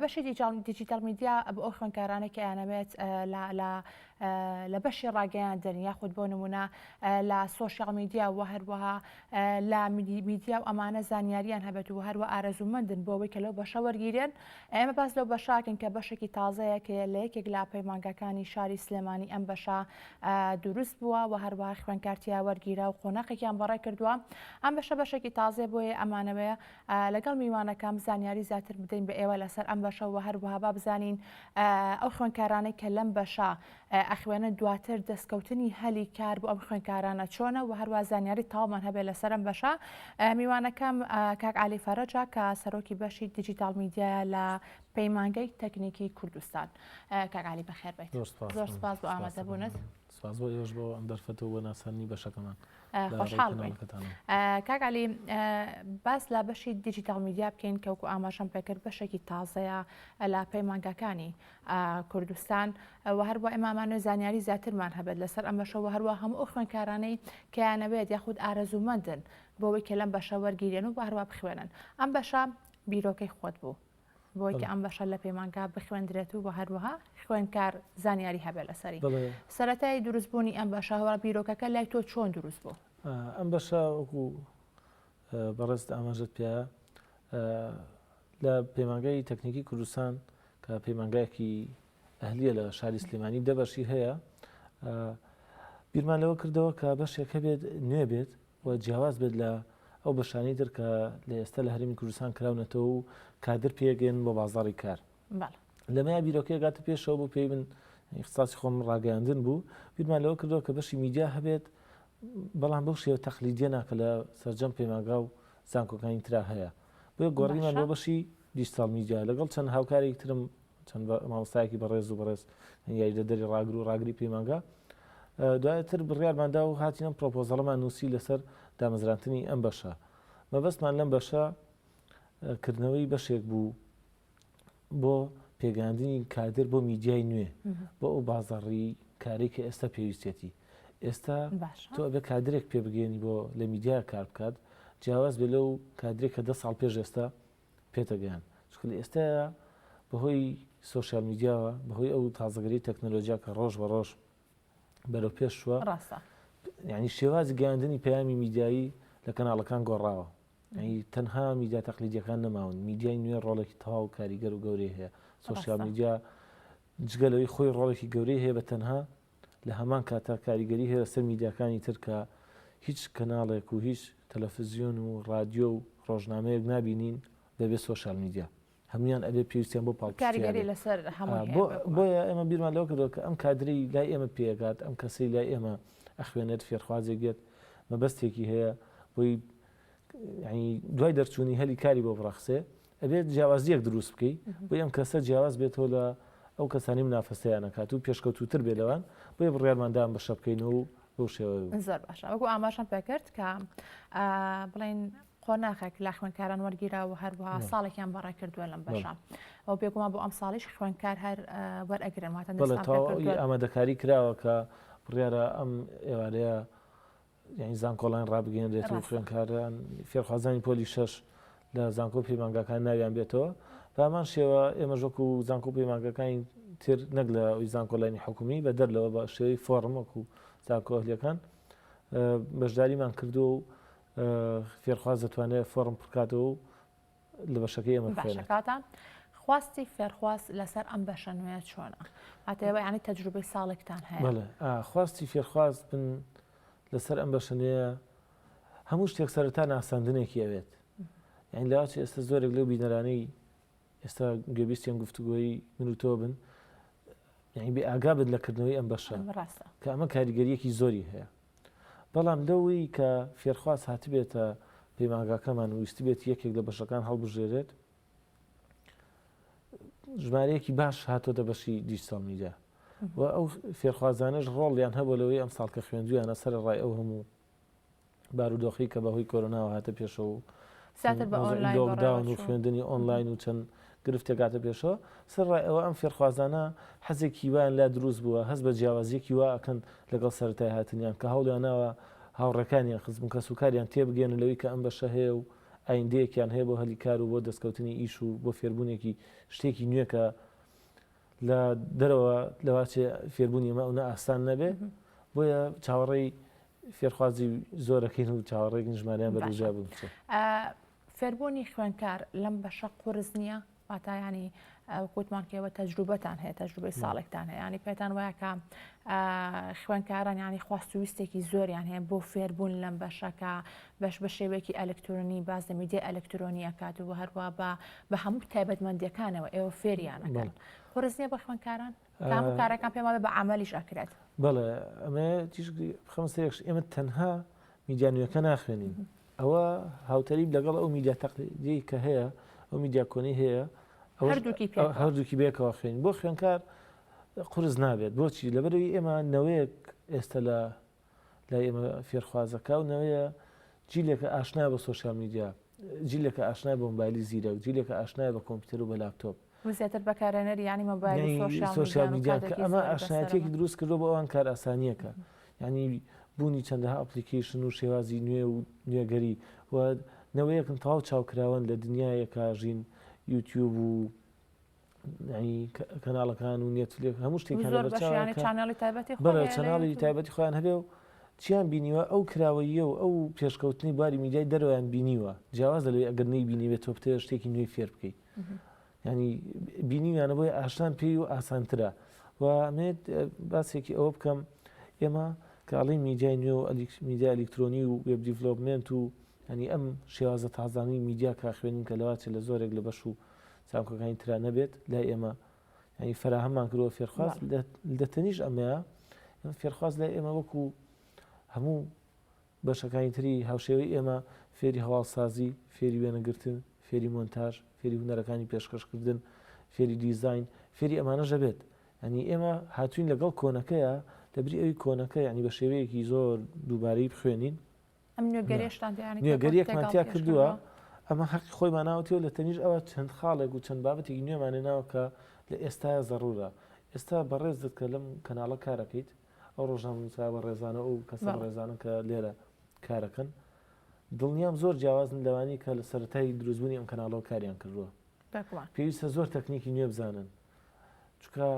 بەشی دیجیتەڵ میدیا بۆ ئەو خوێندکارانەی کە ئەیانەوێت لە بەشی ڕاگەیاندن یاخود بۆ نمونە لە سۆشیال میدیا و هەروەها لە میدیا و ئەمانە زانیاریان هەبێت و هەروە ئارەزوومەندن بۆ ئەوەی کە لەو بەشە وەرگیرێن ئێمە باس لەو بەشاکن کە بەشێکی تازەیە کە لە یەکێک لە پەیمانگاکانی شاری سلێمانی ئەم بەشە دروست بووە و هەروە خوێنکارتیا وەرگیرا و قۆناقێکیان بەڕێ کردووە ئەم بەشە بەشێکی تازێ بۆیە ئەمانەوەیە لەگەڵ میوانەکەم زانیاری زیاتر بدەین بە ئێوە لەسەر ئەم بەشە و هەروەها با بزانین ئەو خوێنکارانەی کە لەم بەشە ئەخوێنە دواتر دەستکەوتنی هەلی کار بۆ ئەم خوێنکارانە چۆنە و هەروە زانیاری تاومان هەبێت لەسەرم بەشە میوانەکەم کاک علی فەرەجا کە سەرۆکی بەشی دیجیتال میدیا لە پەیمانگەی تەکنیکی کوردستان کاک علی بەخێر بێت زۆر سپاس بۆ ئامادەبوونت. سپاس بۆ ئێوەش بۆ ئەم دەرفەت و بۆ ناساندنی بەشەکەمان لە ڕێی خۆشحاڵ بووین کەناڵەکەتانەوە. ئە، کاک عەلی ئە، باس لە بەشی دیجیتاڵ میدیا بکەین کە وەکو ئاماژەم پێ کرد بەشێکی تازەیە ئە لە پەیمانگاکانی ئە کوردستان ئە وە هەروە ئێمە ئەمانەوێ زانیاری زیاترمان هەبێت لەسەر ئەم بەشە وە هەروە هەموو ئەو خوێندکارانەی کە یانەوێت یاخود ئارەزوومەندن بۆ ئەوەی کە لەم بەشە وەرگیرێن و وە هەروە بخوێنن ئەم بەشە بیرۆکەی خۆت بوو بۆی کە ئەم بەشە لە پەیمانگا بخوێندرێت و هەروەها خوێنکار زانیاری هەبێت لەسەری سەتای دروستبوونی ئەم بەشە هەوا بیرۆکەکە لای تۆ چۆن دروست بوو ئەم بەشە وەکو بەڕێست ئاماژت پێ لە پەیمانگای تەکنیکی کوردستان کە پەیمانگایەکی ئەهلیە لە شاری سلێمانی دەبەشی هەیە بیرمان لەوە کردەوە کە بەشێک هەبێت نوێ بێت و جیاواز بێت لە ئەو بەشانەی تر کە لە ئێستا لە هەرێمی کوردستان کراونەتەوە و کادر پێگەیەنن بۆ بازاڕی کار. لەمەیا بیرۆکەی گاتە پێشەوە بۆ پێی من ئیختصاسی خۆم ڕاگەیاندن بوو، بیرمان لەوە کردەوە کە بەشی میدیا هەبێت، بەڵام بەو شێوە تەقلیدییەنا کە لە سەرجەم پەیمانگا و زانکۆکانی ترا هەیە. بۆیە گۆڕینمان بۆ بەشی دیجتاڵ میدیا. لەگەڵ چەند هاوکارێکی ترم چەند مامۆستایەکی بەڕێز و بەڕێز یاریدەدەری ڕاگر و ڕاگری پەیمانگا دواتر بڕیارماندا و هاتین ئەم پرۆپۆزەڵەمان نووسی لەسەر دامەزرانتنی ئەم بەشە مەبەستمان لەم بەشە کردنەوەی بەشێک بوو بۆ پێگەاندنی کادر بۆ میدیای نوێ بۆ ئەو بازەڕی کاری کە ئێستا پێویستێتی ئێستا تۆ بە کادرێک پێبگەێنی بۆ لە میدیا کار بکات جیاواز بێ لەو کادرێک کە دە ساڵ پێش ئێستا پێتەگەیاند چونکە لە ئێستایا بەهۆی سۆشیال میدیاوە بەهۆی ئەو تازەگەری تەکنەلۆجیا کە ڕۆژ بە ڕۆژ بەرەو پێش شووە ڕاستە ینی شێوازی گەاندنی پەیامی میدایی لە کەناڵەکان گۆڕاوە تەنها میدیا تەقلیدیەکان نەماون میدیای نوێ ڕۆڵێکی تەواو کاریگەر و گەورەی هەیە سوسیال میدیا جگە لەوەی خۆی ڕۆڵێکی گەورەی هەیە بە تەنها لە هەمان کاتدا کاریگەری هەیە لەسەر میدیاکانی تر کە هیچ کەناڵێک و هیچ تەلەفزیۆن و ڕادیۆ و ڕۆژنامەیەک نابینین بەبێ سۆشیال میدیا هەموویان ئەبێ پێویستیان بۆ پاڵپشتییانە هەیە بۆیە ئێمە بیرمان لەوە کردووە کە ئەم کادرەی لای ئێمە پێگات ئەم کەسەی لای ئێمە ئەخوێنێت فێرخوازێک بێت مەبەستێکی هەیە بۆی دوای دەرچوونی هەلی کاری بۆ بڕەخسێ ئەبێت جیاوازییەک دروست بکەی بۆی ئەم کەسە جیاواز بێتەوە لە ئەو کەسانی منافەسەیان ئەکات و پێشکەوتووتر بێت لەوان بۆیە بڕیارمان دا ئەم بەشە بکەین و بەو شێوەیە بوو. زۆر باشە وەکو ئاماژەم پێ کرد کە ئا، بڵێین قۆناخێک لە خوێندکاران وەرگیرا و هەروەها نعم. ساڵێکیان بەڕێ کردووە لەم نعم. بەشە ئەو بێگومان بۆ ئەم ساڵیش خوێندکار هەر ئا، وەرئەگرن واتە بەڵێ نوستان پێ تەواوی کردووە ئامادەکاری کراوە کە بڕیارە ئەم ئێوارەیە یانی زانکۆڵاین ڕابگەێنرێت و خوێنکاران فێرخوازانی پۆلی شەش لە زانکۆ پەیمانگاکان ناویان بێتەوە بامان شێوە ئێمە ژۆک و زانکۆ پەیمانگەکانی تر نەک لە ئەوی زانکۆلاینی حکومی بە دەر لەوە بە شێوەی فۆرمەک و زانکۆهلیەکان بەشداریمان کردو و فێرخواز دەتوانێت فۆرم پرکاتەوە و لە بەشەکەی ئێمە بخوێنێت. باشە کاکە خواستی فێرخواز لەسەر ئەم بەشە نوێیە چۆنە؟ واتە ئێوە یانی تەجروبەی ساڵێکتان هەیە. بەڵێ ئا خواستی فێرخواز بن لەسەر ئەم بەشە نوێیە هەموو شتێک سەرەتا ناساندنێکی ئەوێت. یانی لە ئاچی ئێستا زۆرێک لەو بینەرانەی ئێستا گوێبیستی ئەم گفتوگۆی من و تۆ بن، یانی بێئاگا بن لە کردنەوەی ئەم بەشە. ئەم ڕاستە. کە ئەمە کاریگەرییەکی زۆری هەیە. بەڵام لەوەی کە فێرخواز هاتبێتە پەیمانگاکەمان و ویستبێت یەکێک لە بەشەکان هەڵبژێرێت، ژمارەیەکی باش هاتۆتە بەشی دیجیتاڵ میدیا و ئەو فێرخوازانەش ڕۆڵیان هەبوو لەوەی ئەم ساڵ کە خوێندویانە سەر ڕای ئەو هەموو بارودۆخی کە بەهۆی کۆرۆناوە هاتە پێشەوە و زیاتر بە ئۆنلاین بەڕێوە لۆکداون و چوو. خوێندنی ئۆنلاین و چەند گرفت دەگاتە پێشەوە، سەرەڕای ئەوە ئەم فێرخوازانە حەزێکی وایان لا دروست بووە هەست بە جیاوازییەکی وا ئەکەن لەگەڵ سەرەتای هاتنیان کە هەوڵیان ناوە هاوڕێکانیان خزم و کەسوکاریان تێبگەیەنن لەوەی کە ئەم بەشە هەیە و ئایندەیەکیان هەیە بۆ هەلی کار و بۆ دەستکەوتنی ئیش و بۆ فێربوونێکی شتێکی نوێ کە لە دەرەوە لەوە چێ فێربوونی ئەمە ئەونە ئاسان نەبێ بۆیە چاوەڕێی فێرخوازی زۆرەکەین و چاوەڕێکین ژمارەیان بەرەوژا بچێت. فێربوونی خوێنکار لەم بەشە قورس نییە واتایانی کووتمان کێوە تەجروبەتان هەیە تەجروبەی ساڵێکتان هەیە ینی پێتان وایەکە خوێنکاران ینی خواست و ویستێکی زۆریان هەیە بۆ فێربوون لەم بەشەکە بەش بە شێوەیەکی ئەلکترۆنی باز لە میدیە ئەلکترۆنیە کات و هەروە بە بە هەموو تایبەتمەندەکانەوە ئێوە فێریانەکەن قرس نیە بە خوێنکاران کامە کارەکان پێم وابێ بە عەمەلیش ئەکرێت. بەڵێ ئەمێ تیش بخەم سێکش ئێمە تەنها میدیا نوێەکە ناخوێنین ئەوە هاوتەریب لەگەڵ ئەو میدیا تەقلیدی کە هەیە ئەو میدیا کۆنی هەیە هەردووکی پێ هەردووکی بێکەوە خوێن بۆ خوێنکار قرس نابێت بۆچی لەبەرەوەی ئێمە نەوەیەک ئێستا لە لای ئێمە فێرخوازەکە و نەوەیە جیلێکە ئاشنا بە سۆشیال میدیا، جیلێکە ئاشنای بە مۆبایلی زیرەک، جیلێکە ئاشنای بە کۆمپیوتەر و بە لاپتۆپ. و زیاتر بەکارهێنەری یانی مۆبایل و یانی سۆشیال سۆشیال میدیان و میدیان کە کاتێکی ئەمە زۆری بەسەرە. ئاشنایەتیەکی دروست کردووە بۆ ئەوان کارئاسانییەکە یانی بوونی چەندەها ئەپڵیکەیشن و شێوازی نوێ و نوێگەری و نەوەیەکن تەواو چاوکراوەن لە دنیایەکا ژین یوتیوب و کەناڵەکان و نێتفلێک هەموو شتێک چناڵی تایبەتی بەڵێ چناڵی تایبەتی خۆیان هەبێ و چیان بینیوە ئەو کراوەیە و ئەو پێشکەوتنی باری میدیای دەرویان بینیوە جیاواز لەوەی ئەگەر نەی بینیوێت تۆ بتەوە شتێکی نوێی فێر بکەیت ینی بینیویانە بۆی ئاشتان پێی و ئاسانترە و مێت باسێکی ئەوە بکەم ئێمە کاڵی میدیای نوێ و ئەلیکس میدیا ئەلیکترۆنی و وێب دیڤلوپمنت و هەنی ئەم شێوازە تازانی میدیا کا خوێنین کە لەواچێت لە زۆرێک لە بەش و زانکۆکانی ترا نەبێت لای ئێمە یانی فەراهەممان کردوە فێرخواز لە تەنیش ئەمەیە ئێمە فێرخواز لای ئێمە وەکو هەموو بەشەکانی تری هاوشێوەی ئێمە فێری هەواڵسازی فێری وێنەگرتن فێری مۆنتاژ فێری هوەرەکانی پێشکەشکردن فێری دیزین فێری ئەمانە ژەبێت ئەنی ئێمە هاتوین لەگەڵ کۆنەکەیە لەبری ئەوی کۆنەکە ینی بە شێوەیەکی زۆر دووبارەی بخوێنین ئەم نوێگەرێشتان نوێگەریەکمان تیا کردووە ئەمە هەق خۆی ماناوەتەوە لە تەنیش ئەوە چەند خاڵێک و چەند بابەتێکی نوێمانە ناوکە لە ئێستا زەڕورە ئێستا بەڕێز دەکە لەم کەناڵە کارەکەیت ئەو ڕۆژان نووسرا بە ڕێزانە و کەس ڕێزانن کە لێرە کارەکەن دڵنیام زۆر جیاوازن لەوانی کە لە سەرای دروستبوونی ئەم کەناڵەوە کاریان کردووە پێویستە زۆر تەکنیکی نوێ بزانن چکە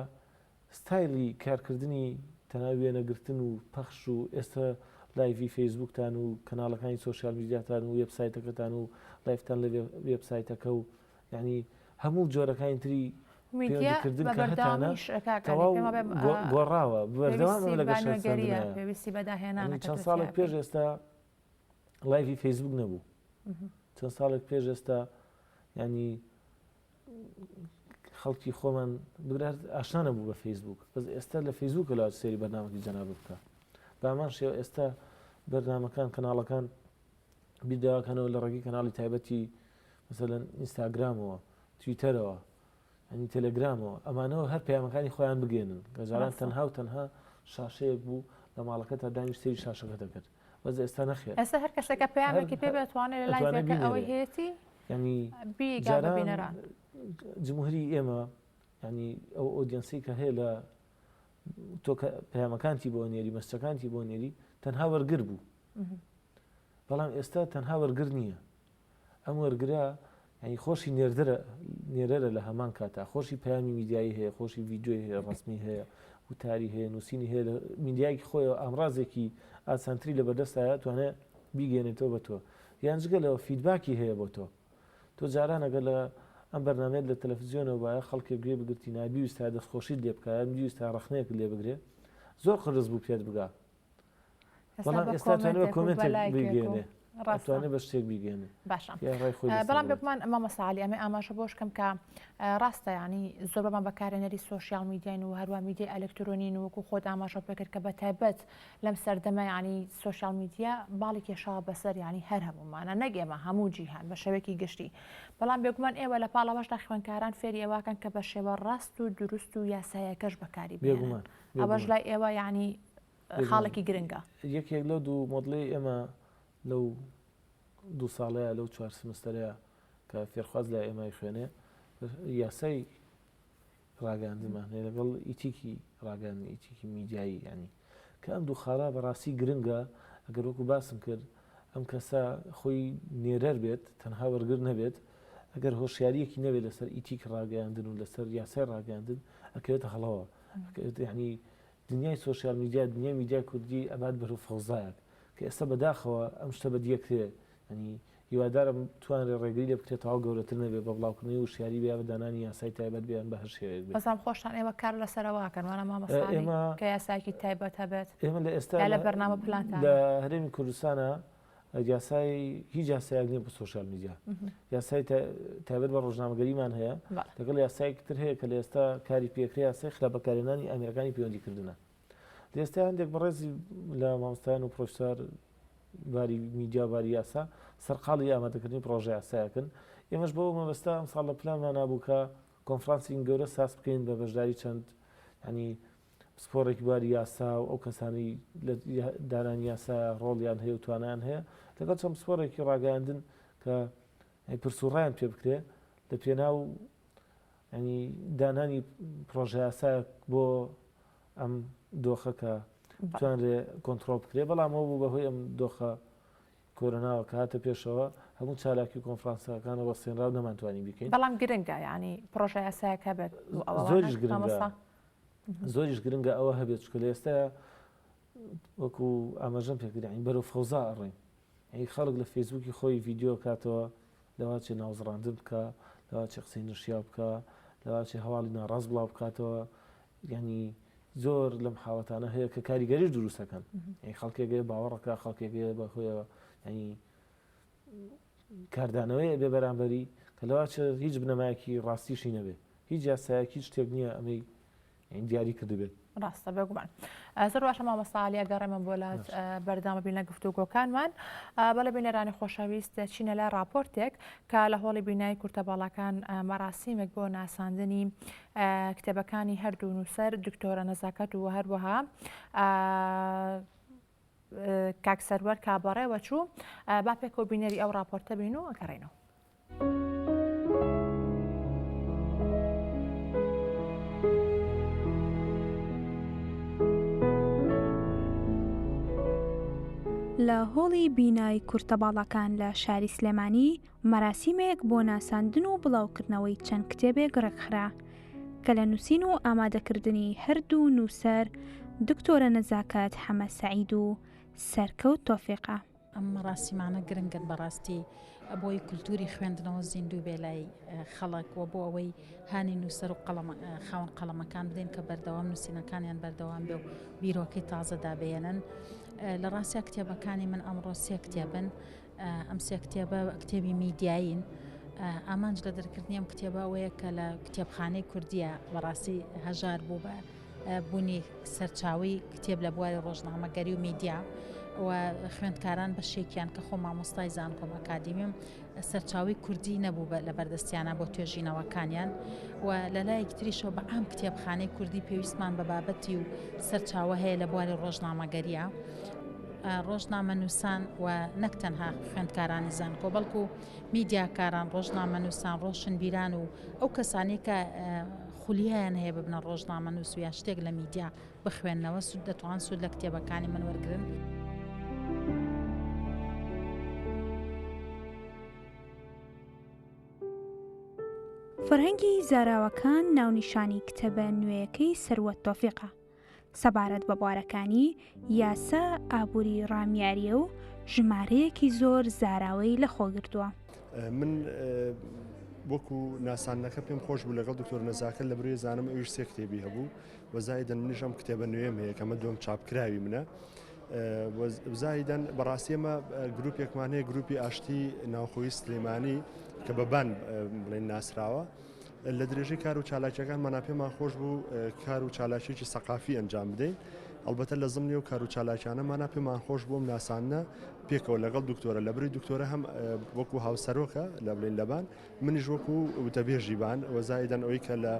ستایلی کارکردنی تەنها وێنەگرتن و پەخش و ئێستا لایڤی فەیسبووکتان و کەناڵەکانی سۆشیال میدیاتان و وێب سایتەکەتان و لایڤتان لە وێب سایتەکە و یەعنی هەموو جۆرەکانی تری میدیا بە بەردەوامیش گۆڕاوە پێویستی بەداهێنان چەند ساڵێک پێش ئێستا لایڤی فەیسبوک نەبوو چەند ساڵێک پێش ئێستا ینی خەڵکی خۆمان بگرە ئاشنا نەبوو بە فەیسبووک بەس ئێستا لە فەیسبووکە لە سێری بەرنامەکی جەناب بکە بامان شێوە ئێستا بەرنمەکان کەناڵەکان بیداکەنەوە لە ڕێگەی کەناڵی تایبەتی مثلەن ئینستاگرامەوە تویتەرەوە ئەنی تەلەگرامەوە ئەمانەوە هەر پەیامەکانی خۆیان بگەێنن گەجاران تەنها و تەنها شاشەیەک بوو لە ماڵەکە تا دانیش سری شاشەکە دەکرد بەس ئێستا نەخێر ئێستا هەر کەسێکە پەیامێکی پێ بێت توانێت لە لای زێکە ئەوەی هەیەتی ینی بیگا بە بینەران جمهوری ئێمە ینی ئەو ئۆدیەنسی کە هەیە لە تۆ پەیامەکانتی بۆ نێری مەستەکانتی بۆ نێری تەنها وەرگر بوو بەڵام ئێستا تەنها وەرگر نییە ئەم وەرگرە یانی خۆشی نێردرە نێرەرە لە هەمان کاتا خۆشی پامی میدیایی هەیە خۆشی ڤیددیۆی هەیە ڕسمی هەیە وتاری هەیە نووسینی هەیە لە میدیایکی خۆیەوە ئامرازێکی ئاسانتری لە بەردەستایە توانێ بیگەێنێتەوە بە تۆ یان جگە لەوە فیدباکی هەیە بۆ تۆ تۆ جارانەگە لە ئەم بەرنمێت لە تەلەفزیۆنەوە وایە خەڵکێک گوێ بگرتی نابیویستا دەستخۆشیت لێ بکایە بیویستا ڕخنەیەک لێ بگرێ زۆر قرس بوو پێت بگا بەڵام ئێستا توانێ بە کۆمێنتێک بگەێنێ ڕاستوانێ بە شتێک بگەێنێ باشە بەڵام بێکمان ئەمە مەساالی ئەمە ئاماژە بۆش کەم کە ڕاستە ینی زۆر بەمان بەکارێنەری سوۆسیال میدیین و هەروە میدی ئەلکترۆنین وەکو خۆت ئاماژە پێکرد کە بە تایبەت لەم سەردەمە ینی سوۆسیال میدیا باڵی کێشاوە بەسەر ینی هەر هەمومانە نەگێمە هەموو جیهان بە شەوێکی گشتی بەڵام بێکمان ئێوە لە پاڵەوەشدا خوێنکاران فێری ئەواکەن کە بە شێوە ڕاست و دروست و یاسایەکەش بەکاری بێگومان ئەوەش لای ئێوە یانی خاڵێکی گرنگە یەکێک لەو دوو مۆدلی ئێمە لەو دوو ساڵەیە لەو چوار سمستەرەیە کە فێرخواز لای ئێمای خوێنێ یاسای ڕاگەاندمان هەیە لەگەڵ ئیتیکی ڕاگەان ئیتیکی میدیایی ینی کە ئەم دوو خاڵە بەڕاستی گرنگە ئەگەر وەکو باسم کرد ئەم کەسە خۆی نێرەر بێت تەنها وەرگر نەبێت ئەگەر هۆشیاریەکی نەبێت لەسەر ئیتیک ڕاگەاندن و لەسەر یاسای ڕاگەاندن ئەکەوێتە هەڵەوە یەعنی دنیای سۆشیال میدیا دنیای میدیای کوردی ئەبات بەر و فەوزایەک کە ئێستا بەداخەوە ئەم شتە بەدیە کرێ یەعنی هیوادارم توانرێ ڕێگری لێ بکرێ تەواو گەورەتر نەبێ بە بڵاوکردنەوەی وشیاری بێ یا بە دانانی یاسای تایبەت بێ یان بە هەر شێوەیەک بێ. بەزام خۆشتان ئێوە کار لەسەرەوە ئەکەن وانە مامۆستا ئێمە کە یاسایەکی تایبەت هەبێت ئێمە لە ئێستا یا لە بەرنامە پلانتانە؟ لە هەرێمی کوردستانا یاسای هیچ یاسایەک نیە بە سوۆشال میدیا یاسای تابەت بە ڕۆژنامەگەریمان هەیە لەگەڵ یاسایەکی تر هەیە کە لە ئێستا کاری پێکرێ یاسای خراپ بەکارێنانی ئەمریکانی پەیوەندی کردنە لە ئێستا هەندێک بەڕێزی لە مامۆستایان و پرۆفسار باری میدیا باری یاسا سەرقاڵی ئامادەکردنی پرۆژە یاسایەکن ئێمەش بەوە مەبەستا ئەم ساڵ لە پلانمان نبوو کە کۆنفرانسین گەورە ساز بکەین بە بەشداری چەند ینی پسپۆڕێکی بواری یاسا و ئەو کەسانەی لە دانانی یاسایە ڕۆڵیان هەیە و توانایان هەیە لەگەڵ چەند پسپۆڕێکی ڕاگەیاندن کە پرس و ڕایان پێ بکرێ لە پێناو ینی دانانی پرۆژە یاسایەک بۆ ئەم دۆخە کە توانرێ کۆنتترۆل بکرێ بەڵام ئەو بوو بەهۆی ئەم دۆخە کۆرۆناوە کە هاتە پێشەوە هەموو چالاکی کۆنفرانسەکان وەستێنرا و نەمانتوانی بکەین بەڵام گرنگە ینی پرۆژە یاسایەکە بێت زۆریش گرنگە زۆریش گرنگە ئەوە هەبێت چونکە لە ئێستایا وەکو ئاماژەم پێ کرد یانی بەرەو فەوزا ئەڕۆین یانی خەڵک لە فەیسبووکی خۆی ڤیدیۆ کاتەوە لەوا چێ ناوزڕاندن بکا لەوا چێ قسەی نەشیاو بکا لەوا چێ هەواڵی ناڕاست بڵاو بکاتەوە یانی زۆر لەم حاڵەتانە هەیە کە کاریگەریش دروستەکەن یانی خەڵکێگەیە باوەڕەکە خەڵکێگەیە بەهۆیەوە یانی کاردانەوەیە بێ بەرامبەری کە لەواچە هیچ بنەمایەکی ڕاستیشی نەبێ هیچ یاسایەک هیچ شتێک نییە ئەمەی دیاری کردبێت ڕاستە بێگومان زۆر باشە مامەساالیا گەڕێمە بۆ لات بەردامە بینە گفتوگۆکانمان بەڵێ بینەرانی خۆشەویست چینە لای راپۆرتێک کە لە هۆڵی بینای کورتە باڵاکان مەراسیمێک بۆ ناساندنی کتێبەکانی هەردوو نووسەر دکتۆرە نەزاکەت و هەروەها کاک سەروەر کا بەڕێوە چوو با پێکەوە بینەری ئەو راپۆرتە بین و ئەگەڕێنەوە. لە هۆڵی بینای کورتە باڵاکان لە شاری سلێمانی مەراسیمێک بۆ ناساندن و بڵاوکردنەوەی چەند کتێبێک ڕێکخرا کە لە نووسین و ئامادەکردنی هەردوو نووسەر دکتۆرە نەزاکەت حەمە سەعید و سەرکەوت تۆفیقە. ئەم مەراسیمانە گرنگن بەڕاستی بۆی کولتوری خوێندنەوە زیندوو بێ لای خەڵک و بۆ ئەوەی هانی نووسەر و خاون قەڵەمەکان بدەین کە بەردەوام نووسینەکانیان بەردەوام بێ و بیرۆکەی تازەدا بێنن لە ڕاستیا کتێبەکانی من ئەمڕۆ سێ کتێبن ئەم سێ کتێبە کتێبی میدیایین. ئامانج لە دەرکردنی ئەم کتێبە ئەوەیە کە لە کتێبخانەی کوردیە بەڕاستی هەژار بوو بە بوونی سەرچاوی کتێب لە بواری ڕۆژنامەگەری و میدیا و خوێندکاران بە شێکیان کە خۆ مامۆستای زانکۆم ئەکادیمیم سەرچاوی کوردی نەبوو بە لە بەردەستیانە بۆ توێژینەوەکانیان و لە لایەکی تریشەوە بە ئام کتێبخانەی کوردی پێویستمان بە بابەتی و سەرچاوە هەیە لە بواری ڕۆژنامەگەریە ڕۆژنامەنووسان و نەک تەنها خوێندکارانی زانکۆ بەڵکو میدیاکاران ڕۆژنامەنووسان ڕۆشنبیران و ئەو کەسانی کە خولیایان هەیە ببنە ڕۆژنامە نووس و یا شتێک لە میدیا بخوێندنەوە سود دەتوان سود لە کتێبەکانی من وەرگن. فەرهەنگی زاراوەکان ناونیشانی کتێبە نوێیەکەی سروە تۆفیقە سەبارەت بە بوارەکانی یاسا، ئابووری، ڕامیاریی و ژمارەیەکی زۆر زاراوەی لەخۆگرتووە. من وەکو ناساندنەکە پێم خۆش بوو لەگەڵ دکتۆر نەزاکە لە بروێ زانم ئەویش سێ کتێبی هەبوو وەزایدن منیش ئەم کتێبە نوێم هەیە کەمە دوم چاپکراوی منە بزایدەن بەڕاستیەمە گروپێکمان هەیە گروپی ئاشتی ناوخۆی سلێمانی کە بەبان بڵێن ناسراوە لە درێژەی کار و چالاکیەکانمانە پێمان خۆش بوو کار و چالاکیێکی سەقافی ئەنجام بدەین ئەلبەتە لە زمنی و کار و چالاکیانەمانە پێمان خۆش بووم ناسانە پێکەوە لەگەڵ دکتۆرە لە بری دکتۆرە هەم وەکو هاوسەرۆکە لە بلین لەبان منیش وەکو وتەبێژی بان وەزایدەن ئەوی کە لە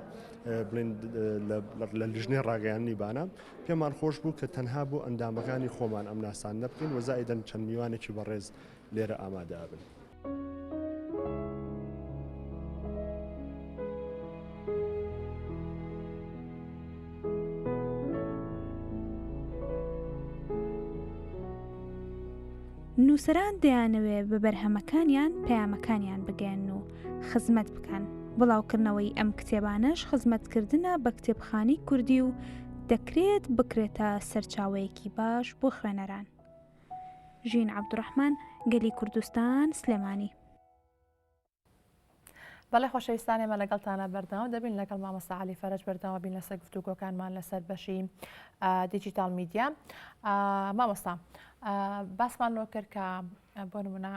لە لیژنێ ڕاگەیاننی بانە پێمان خۆش بوو کە تەنها بۆ ئەندامەکانی خۆمان ئەم ناسان نەبکەین وەزایدەن چەند میوانێکی بەڕێز لێرە ئامادەبن. نووسەران دەیانەوێ بە بەرهەمەکانیان پەیامەکانیان بگەن و خزمەت بکەن بڵاوکردنەوەی ئەم کتێبانەش خزمەتکردە بە کتێبخانی کوردی و دەکرێت بکرێتە سەرچاوەیەکی باش بۆ خوێنەران ژین عەبدوڕەحمان، گەلی کوردستان، سلێمانی. بەڵێ خۆشەویستان ئێمە لەگەڵتانە بەردەوام دەبین لەگەڵ مامۆستا علی فەرج بەردەوام بین لەسەر گفتوگۆکانمان لەسەر بەشی دیجیتال میدیا مامۆستا باسمان لۆ کرد کە بۆ نمونە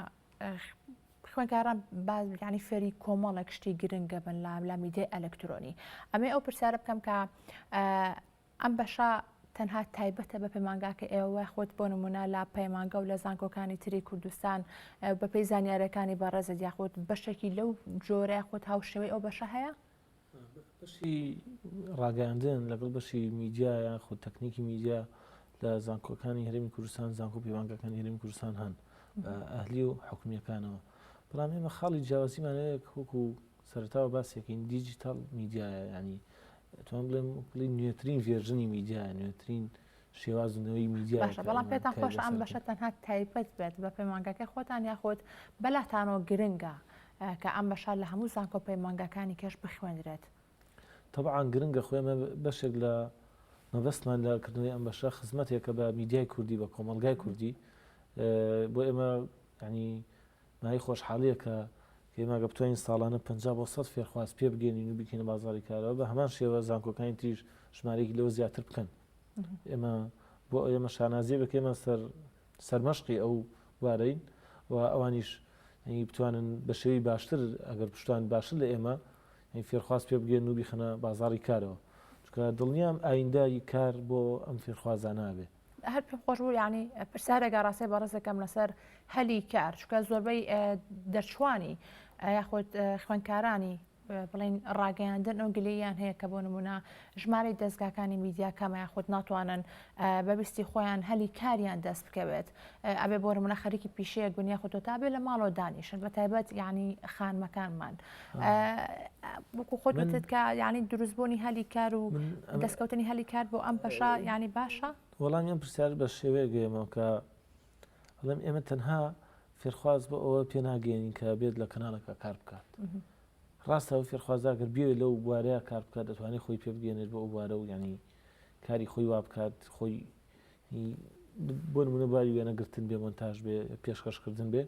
خوێنکاران بازگانی فێری کۆمەڵێک شتی گرنگە بن لە لە میدیای ئەلکترۆنی ئەمێ ئەو پرسیارە بکەم کە ئەم بەشە تەنها تایبەتە بە پەیمانگاکەی ئێوە خۆت بۆ نمونە لە پەیمانگە و لە زانکۆکانی تری کوردستان بەپێی زانیارەکانی بەڕێزت یاخود بەشێکی لەو جۆرە خۆت هاوشێوەی ئەو بەشە هەیە؟ بەشی ڕاگەاندن لەگەڵ بەشی میدیا یان خۆ تەکنیکی میدیا لە زانکۆکانی هەرمی کوردستان زانکۆ پەیوانگەکانی هەرمی کوردستان هەن ئەهلی و حکومیەکانەوە بەڵام ئێمە خاڵی جیاوازیمانەیەک وەکو سەرەتاوە باسیەکەین دیجیتەڵ میدیایە یانی توان بڵێم بڵی نوێترین ڤێرژنی میدیایە نوێترین شێوازنەوەی میدیا باشە بەڵام پێتان خۆش ئەم بەشە تەنها تایبەت بێت بە پەیمانگەکەی خۆتان یاخۆت بەلاتانەوە گرنگە کە ئەم بەشە لە هەموو زانکۆ پەیمانگەکانی کەش بخوێنرێت طبعا گرنگە خۆێ بەشێک لە مەبەستمان لە کردنەوەی ئەم بەشە خزمەتێکە بە میدیای کوردی بە کۆمەلگای کوردی بۆ ئێمە ینی ناوی خۆشحاڵییەکە کە ئێمە ئەگەر بتوانین ساڵانە پەنجا بۆ سەد فێرخواز پێبگەیەنین و بیکەینە بازاڕی کارەوە، بە هەمان شێوە زانکۆکانی تریش ژمارەیەکی لەوە زیاتر بکەن. ئێمە بۆ ئێمە شانازییەکە کە ئێمە سەر سەرمەشقی ئەو بوارەین و ئەوانیش بتوانن بە شێوەی باشتر ئەگەر بشتوانن باشتر لە ئێمە فێرخواز پێبگەیەنن و بیخەنە بازاڕی کارەوە، چونکە دڵنیام ئایندە ی کار بۆ ئەم فێرخوازانە ئەبێ. هەر پێم خۆش بوو ینی پرسیارێکە ڕاستێ بەڕز دەکەم لەسەر هەلی کار چکە زۆربەی دەرچوانی یاخود خوێنکارانی بڵین ڕاگەیاندن ئەو گلیان هەیە کە بۆ نمونە ژمارەی دەستگاکانی میدیا کەمای خۆت ناتوانن بەبیستی خۆیان هەلی کاریان دەست بکەوێت ئەبێ بۆ منە خەریکی پیشەیەک بنیە خۆتۆ تابێ لە ماڵەوە دانیشن بە تایبەت یعنی خانمەکانمان وەکو خۆت وتت کە یانی دروستبوونی هەلی کار و دەستکەوتنی هەلی کار بۆ ئەم بەشە ینی باشە وەڵام ئەم پرسیار بە شێوەیە گەێمەوە کە بڵێم ئێمە تەنها فێرخواز بۆ ئەوە پێناگەێنین کە بێت لە کەناڵەکە کار بکات ڕاستە و فێرخوازاگەر بێ لەو بوارەیە کار بکات دەتوانێت خۆی پێ بگەێنێت بۆ ئەو بوارە و ینی کاری خۆی وا بکات خۆی بۆ نمونە باری وێنە گرتن بێ مۆنتاژ بێ پێشکەش کردن بێ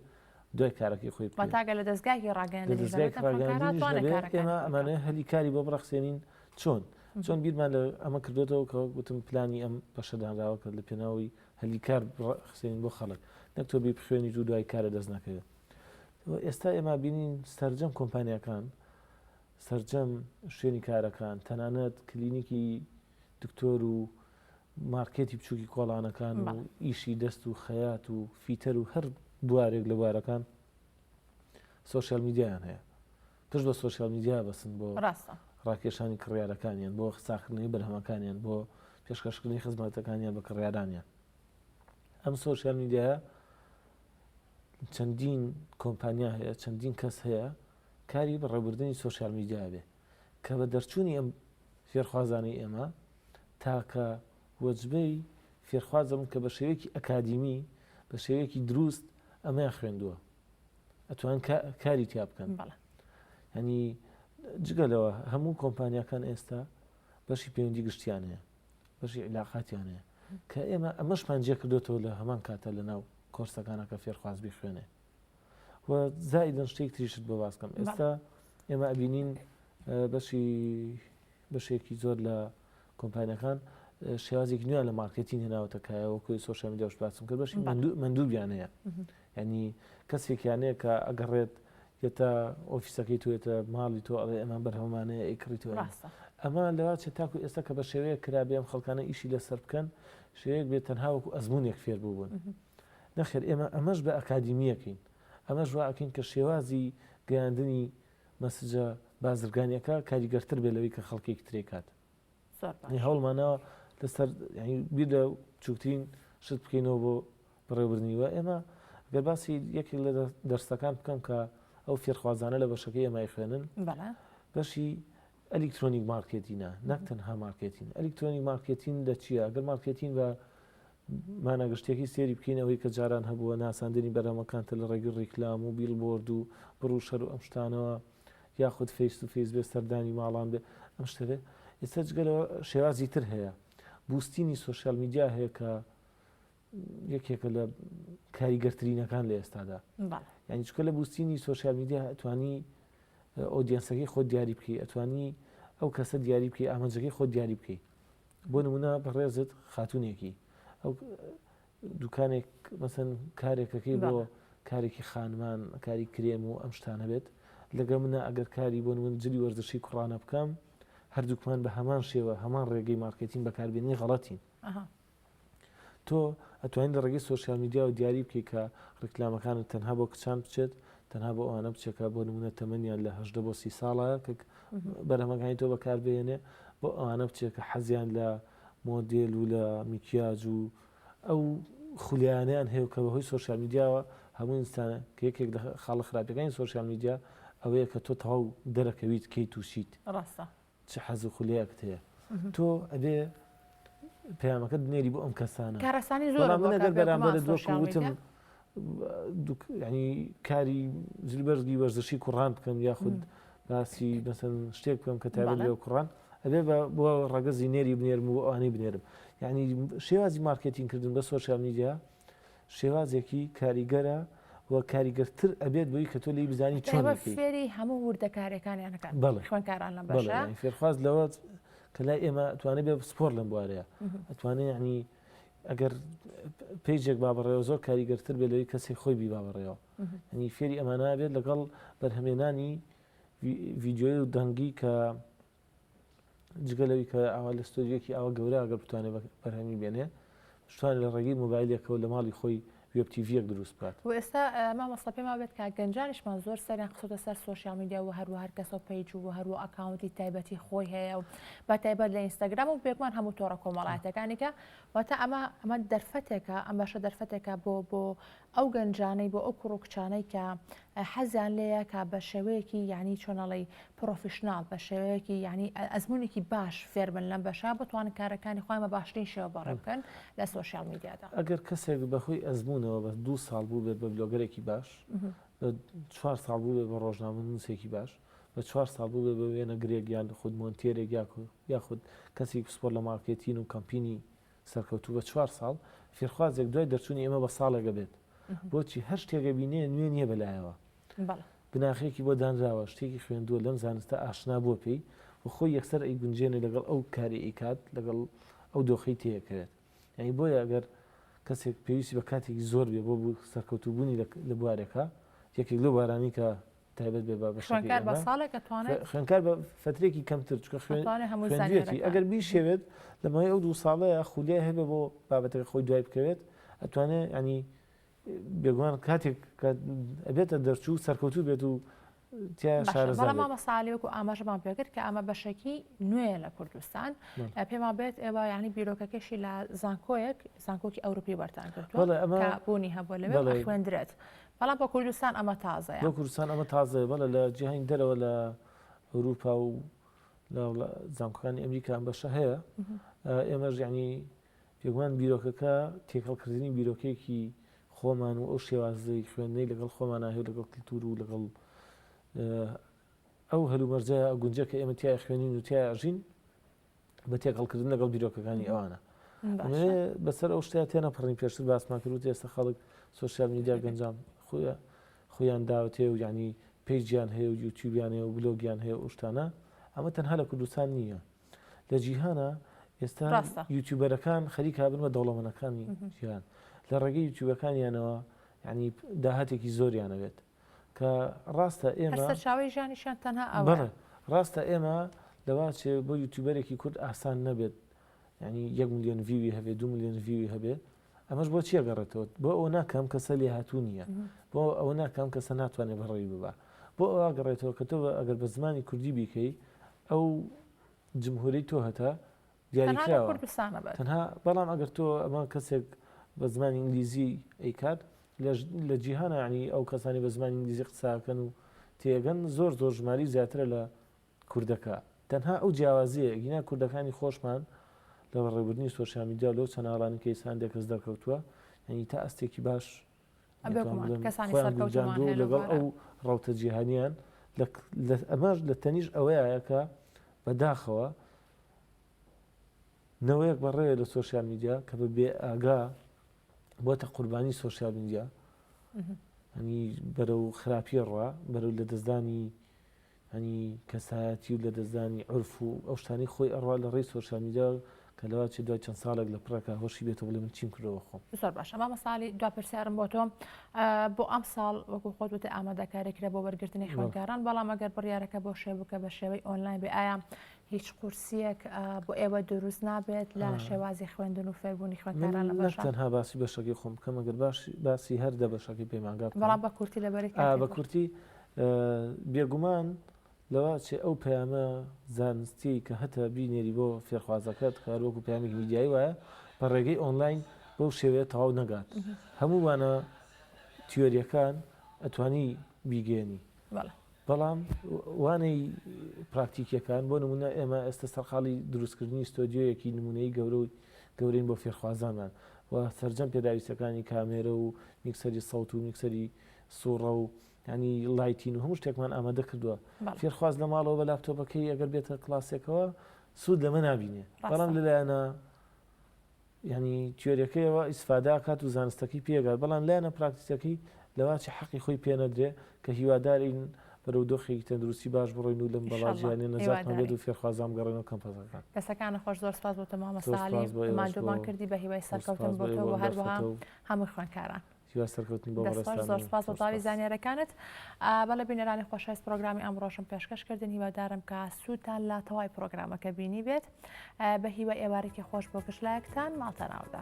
دوای کارەکەی خۆی بکەین. تاگە لە دەستگاکی ڕاگەیاندنی لە دەستگایەکی ڕاگەیاندنیش نەبێ، ئێمە ئەمانە هەلی کاری بۆ بڕەخسێنین چۆن چۆن بیرمان لە ئەمە کردوێتەوە کە وەک گوتم پلانی ئەم بەشەدانراوە کرد لە پێناوی هەلی کار بڕەخسێنین بۆ خەڵک نەک تۆ بی بخوێنی و دوای کارە دەست نەکەوێت ئێستا ئێمە بینین سەرجەم کۆمپانیەکان سەرجەم شوێنی کارەکان تەنانەت کلینیکی دکتۆر و مارکێتی بچووکی کۆڵانەکان و ئیشی دەست و خەیات و فیتەر و هەر بوارێک لە بوارەکان سوۆسیال میدیایان هەیە پشت بە سوۆسیال میدیا بەسن بۆ ڕاستە ڕاکێشانی کڕیارەکانیان بۆ ساخنەی بەرهەمەکانیان بۆ پێشکەشکردنی خزمەتەکانیان بە کڕیارانیان ئەم سوۆسیال میدیایە چەندین کۆمپانیا هەیە چەندین کەس هەیە کاری بەڕێبردننی سوۆسیال میدیا بێ کە بە دەرچوونی ئەم فێرخوازانی ئێمە تاکە وەجبەی فێرخوازەبن کە بە شێوەیەکی ئەکادیمی، بە شێوەیەکی دروست ئەمەیان خوێندووە، ئەتوان کاری تیا بکەن. هەنی جگە لەوە هەموو کۆمپانیاکان ئێستا بەشی پەیوەندی گشتیان هەیە، بەشی عیلاقاتیان هەیە، کە ئێمە ئەمەشمان جێ کردوێتەوە لە هەمان کاتە لە ناو کۆرسەکانە کە فێرخواز بخوێنێ. و زائیدن شتێک تریشت بۆ باسکەم ئێستا ئێمە ئەبینین بەشی بەشێکی زۆر لە کۆمپانیەکان شێوازێک نوێ لە مارکەتین هێناوەتەکایە وەکوی سوۆشیا میدیاش باسم کرد بەشی مندووبیان هەیە ینی کەسێکیانەیە کە ئەگەڕێت یەتە ئۆفیسەکەی توێتە ماڵی تۆ ئەڵێ ئەمان بەرهەمانەیە ئەیکڕی تۆ ئەمە لەواچێت تاکو ئێستا کە بە شێوەیە کرابێم خەڵکانە ئیشی لەسەر بکەن شێوەیەک بێت تەنهاوەکو ئەزمونێک فێر بووبوون نەخێر ئێمە ئەمەش بە ئەکادیمییەکەین، ئەمەش وا ئەکەین کە شێوازی گەیاندنی مەسجە بازرگانییەکە کاریگەرتر بێت لەوەی کە خەڵکێکی تر ئەیکات. زۆر باش. یعنی هەوڵمان ناوە لەسەر یعنی بیر لە بچووکترین شت بکەینەوە بۆ بەڕێوەبردنی و ئێمە گەر باسی یەکێک لە دەرسەکان بکەم کە ئەو فێرخوازانە لە بەشەکەی ئێمە ئەیخوێنن بەڵێ. بەشی ئەلیکترۆنیک مارکێتینە نەک تەنها مارکێتین ئەلیکترۆنیک مارکێتین لە چییە؟ گەر مارکێتین بە مانا گشتیەکەی سەیری بکەین ئەوەی کە جاران هەبووە ناساندنی بەرهەمەکانتە لە ڕێگەی ڕیکلام و بیڵبۆرد و بڕ و شەر و ئەم شتانەوە یاخود فەیس تو فەیس بێ سەردانی ماڵان بێ ئەم شتە بێ ئێستا جگەلەوە شێوازی تر هەیە بوستینی سوسیال میدیا هەیە کە یەکێکە لە کاریگەرترینەکان لە ئێستادا یعنی چکە لە بوستینی سوسیال میدیا توانی ئۆدیەنسەکەی خۆ دیاری بکەی ئەتوانی ئەو کەسە دیاری بکەی ئامانجەکەی خۆ دیاری بکەی بۆ نمونە بەڕێزت خاتونێکی ئەو دوکانێک مەسەن کارێکەکەی بۆ کارێکی خانمان کاری کرێم و ئەم شتان هەبێت لەگە منە ئەگەر کاری بۆ من جلی وەرزشی کوڕانە بکەم هەردووکمان بە هەمان شێوە هەمان ڕێگەی مارکتین بەکاربیێنی غڵەتین تۆ ئەتوانی لە ڕێگەی سۆشیال میدیاوە دیاری بکەی کە ڕیکلامەکانت تەنها بۆ کچان بچێت، تەنها بۆ ئەوانە بچێت کە بۆ نموونە تەمەنیان لە هەژدە بۆ سی ساڵە کە بەرهەمەکانی تۆ بەکاربهێنێ، بۆ ئەوانە بچێت کە حەزیان لە مۆدێل و لە میکیاج و ئەو خولیایانەیان هەیە و کە بەهۆی سۆشیال میدیاوە هەموو ئینسان کە یەکێک لە خاڵە خراپیەکانی سۆشیال میدیا ئەوەیە کە تۆ تەواو دەرەکەویت کەی تووشیت. ڕاستە. چ حەز و خولەیەکت هەیە تۆ ئەبێ پەیامەکەت بنێری بۆ ئەم کەسانە کارەسانی زۆر من ئەگەر بەرامبەرت وەکو وتم ینی کاری زلبەرزگی وەرزشی کوڕان بکەم یاخود باسی بەسەن شتێک بکەم کە تابێت لێ کوڕان ئەبێ بۆ ڕەگەزی نێری بنێرم و ئەوانی بنێرم یعنی شێوازی مارکێتین کردن بە سۆشال میدیا شێوازێکی کاریگەرە و کاریگەرتر ئەبێت بۆی کە تۆ لی بزانی چۆن فێری هەموو وردەکارەکانیان نەکات بەڵێ خوێنکاران لە بەشە فێرخواز لەوە کە لای ئێمە توانێت بێ سپۆر لەم بوارەیە ئەتوانێت یعنی ئەگەر پێیجێک با بەڕێەوە زۆر کاریگەرتر بێت لەوەی کەسی خۆی بی با بەڕێەوە هەنی فێری ئەمانە بێت لەگەڵ بەرهەمێنانی ڤیددیۆی و دەنگی کە جگە لەوی کە ئاوا لە ستۆدیۆکی ئاوا گەورە ئەگەر بتوانێت بەرهەمی بێنێ شتان لە ڕێگەی مۆبایلێکەوە لە ماڵی خۆی وێب تیڤیەک دروست بکات و ئێستا مامۆستا پێما بێت کە گەنجانیشمان زۆر سەریان قسەتە سەر سوۆشیال میدیا و هەروە هەر کەسەوە پیج و هەروە ئەکاونتی تایبەتی خۆی هەیە و بە تایبەت لە ئینستاگرام و بێگومان هەموو تۆڕە کۆمەڵاتەکانێکە واتە ئەمە ئەمە دەرفەتێکە ئەم باشە دەرفەتێکە بۆ بۆ ئەو گەنجانەی بۆ ئەو کوڕو کچانەی کە حەزیان لێیە کە بە شێوەیەکی یعنی چۆنەڵی پرۆفیشنال بە شێوەیەکی یعنی ئەزمونێکی باش فێربن لەم بەشە بتوان کارەکانی خۆیان بە باشترین شێوە بەڕێ بکەن لە سۆشیال میدیادا. ئەگەر کەسێک بە هۆی ئەزمونەوە بە دوو ساڵ بووبێت بە بلۆگەرێکی باش، بە چوار ساڵ بووبێت بە ڕۆژنامەنووسێکی باش، بە چوار ساڵ بووبێت بە وێنەگرێک یان خود مۆنتێرێک یاخود کەسێکی پسپۆر لە مارکێتین و کەمپینی سەرکەوتوو بە چوار ساڵ فێرخوازێک دوای دەرچوونی ئێمە بە ساڵێک ئەبێت بۆچی هەر شتێک ئەبینێ نوێ نییە بە لایەوە بناخەیەکی بۆ دانراوە شتێکی خوێندووە لەم زانستە ئاشنا بووە پێی و خۆی یەکسەر ئەیگونجێنێ لەگەڵ ئەو کاری ئەیکات لەگەڵ ئەو دۆخەی تێیەکەوێت یعنی بۆیە ئەگەر کەسێک پێویستی بە کاتێکی زۆر بێ بۆ سەرکەوتوبوونی لە بوارێکە یەکێک لەو بارانی کە تایبەت بێ بە بەشەکەی خوێندکار بە ئێمە ساڵێک ئەتوانێت خوێندکار بە فترێکی کەمتر چکە خوێن ئەتوانێت هەموو خوێندوێتی زانیاریەکان ئەگەر بیشەوێت لە ماوەی ئەو دوو ساڵەیە خولیای هەبێ بۆ بابەتەکە خۆی دوای بکەوێت ئەتوانێت ینی بێگومان کاتێک کە ئەبێتە دەرچوو سەرکەوتوو بێت و تیا باشە شارەزا بەڵام بێت مامە ساالێک و ئاماژەمان پێکرد کە ئەمە بەشێکی نوێیە لە کوردستان بەڵێ. ئە، پێمان بێت ئێوە یعنی بیرۆکەکەشی لە زانکۆیەک زانکۆکی ئەوروپی وەرتان کردووە بەڵێ، ئەمە- کە بوونی هەبووە لەوێ بەڵێ. خوێندرێت بەڵام بۆ کوردستان ئەمە تازەیە. بۆ کوردستان ئەمە تازەیە بەڵێ لە جیهانی دەرەوە لە ئەوروپا و لە زانکۆکانی ئەمریکا ئەم بەشە هەیە ئێمەش یعنی پێگومان بیرۆکەکە تێکەڵکردنی بیرۆکێکی خۆمان و ئەو شێوازەی خوێندنەی لەگەڵ خۆمانە هەیە لەگەڵ کللتور و لەگەڵ ئەو هەلومەرجە گونجە کە ئێمە تای خوێنین و تایژین بە تێکەڵکردن لەگەڵ بیرۆکەکانی ئەوانە بەسەر ئەو شتیا تێنە پڕین پێشتر باسمان کرد ئێستا خەڵک سوسیال میدیا گەنجام خۆە خۆیان داوتێ و ینی پێیجیان هەیە و یوتیوبیان هەیە و بلۆگیان هەیە ئوشتانە ئەمە تەنها لە کوردستان نییە لە جیهانە ئێستا یوتیوبەرەکان خەریکا بن بە دەوڵەمەنەکانی جیهان لە ڕێگەی یوتیوبەکانیانەوە ینی داهاتێکی زۆریانەوێت کە ڕاستە ئێمە هەر سەرچاوەی ژیانیشیان تەنها ئەوە بەڵێ ڕاستە ئێمە لەوا چێ بۆ یوتیوبەرێکی کورد ئاسان نەبێت ینی یەک ملیۆن ڤیوی هەبێ دو ملیۆن ڤیوی هەبێ ئەمەش بۆ چیە گەڕێتەوە بۆ ئەو ناکەم کەسە لێ هاتوو نییە بۆ ئەو ناکەم کەسە ناتوانێت بەڕێوی ببا بۆ ئەوە گەڕێتەوە کە تۆ ئەگەر بە زمانی کوردی بیکەی ئەو جمهوری تۆ هەتا دیاریکراوە تەنها بەڵام ئەگەر تۆ ئەمە کەسێک بە زمانی ئینگلیزی ئەیکات لە جیهانە عنی ئەو کەسانی بە زمانی ئینگلیزی قساکەن و تێگەن زۆر زۆر ژماری زیاترە لە کوردەکە تەنها ئەو جیاوازەیە گینا کوردەکانی خۆشمان لە بەڕێبردننی سۆشیامیدیا لەو چەناڵانی کەیسان دەکەس دەرکەوتووە یعنی تا ئەستێکی باش ئەو ڕوتە جیهانیان ئەماش لە تەنیش ئەوەیەکە بەداخەوە نەوەیەک بەڕێ لە سوۆسیال میدیا کە بە بێ ئاگا بۆتە قوربانی سوۆسیال میدیا ئەنی بەرە و خراپیە ڕە بەرە لە دەستدانی هەنی کەسایەتی و لەدەستدانی عورف و ئەو شتانەی خۆی ئەڕوا لە ڕێی سۆشیال میدیا کە لەوە چێت دوای چەند ساڵێک لە پڕێکا هۆشی بێت و بڵێ من چیم کردوە بە خۆم. زۆر باشە مامۆستا عەلی دوا پرسیارم بۆ تۆ بۆ ئەمساڵ وەکو خۆت وتت ئامادەکاری کرا بۆ وەرگرتنی خوێندکاران بەڵام ئەگەر بڕیارەکە بۆ شێ بکە بە شێوەی ئۆنلاین بێ ئایا هیچ قورسیەک بۆ ئێوە دروست نابێت لە شێوازی خوێندن و فێربوونی خوێندکاران لە باشە تەنها باسی بەشەکەی خۆم بکەم ئەگەر باش باسی هەر دە بەشەکەی پەیمانگا بکەم بەڵام بە کورتی لەبەری بە کورتی بێگومان لەوە چێ ئەو پەیامە زانستیەی کە هەتە بینێری بۆ فێرخوازەکەت کە هەروەکو پەیامێکی میدیایی وایە بە ڕێگەی ئۆنلاین بەو شێوەیە تەواو نەگات هەموو وانە تیۆریەکان ئەتوانی بیگەێنی بەڵام وانەی پراکتیکیەکان بۆ نمونە ئێمە ئێستا سەرقاڵی دروستکردنی ستۆدیۆیەکی نمونەی گەورە و گەورین بۆ فێرخوازانمان و سرجەم پێداویستەکانی کامێرە و میکسەری سەوت و میکسەری سوڕە و یانی لایتین و هەموو شتێکمان ئامادە کردووە فێرخواز لە ماڵەوە بە لاپتۆپەکەی ئەگەر بێتە کلاسێکەوە سوود لەمە نبینێ بەڵام لەلایەنە ینی تیۆریەکەیەوە ئیسفادا کات و زانستەکەی پێگات بەڵام لایەنە پراکتیسەکەی لەواچی حەقی خۆی پێنەدرێ کە هیوادارین بەرەو دۆخێکی تەندروستی باش بڕۆین و لەم بەڵاجییانە نەجاتمان بێت و فێرخوازام گەڕێنەوە کەمپەزەکان دەسەکانە خۆش زۆر سپاس بۆ تەمامەسالی مادۆمان کردی بە هیوای سەرکەوتن بۆ هەروەها هەموو خوێنکاران هیوای سەرکەوتنی بۆ بەڕێزتان دەست خۆش زۆر سوپاس بۆ بڵاوی زانیارەکانت بەڵێ بینەرانی خۆشەویست پرۆگرامی ئەمڕۆشم پێشکەش کردن هیوادارم کە سوودتان لە تەوای پرۆگرامەکە بینی بێت بە هیوای ئێوارێکی خۆش بۆ گشت لایەکتان ماڵتەناودا.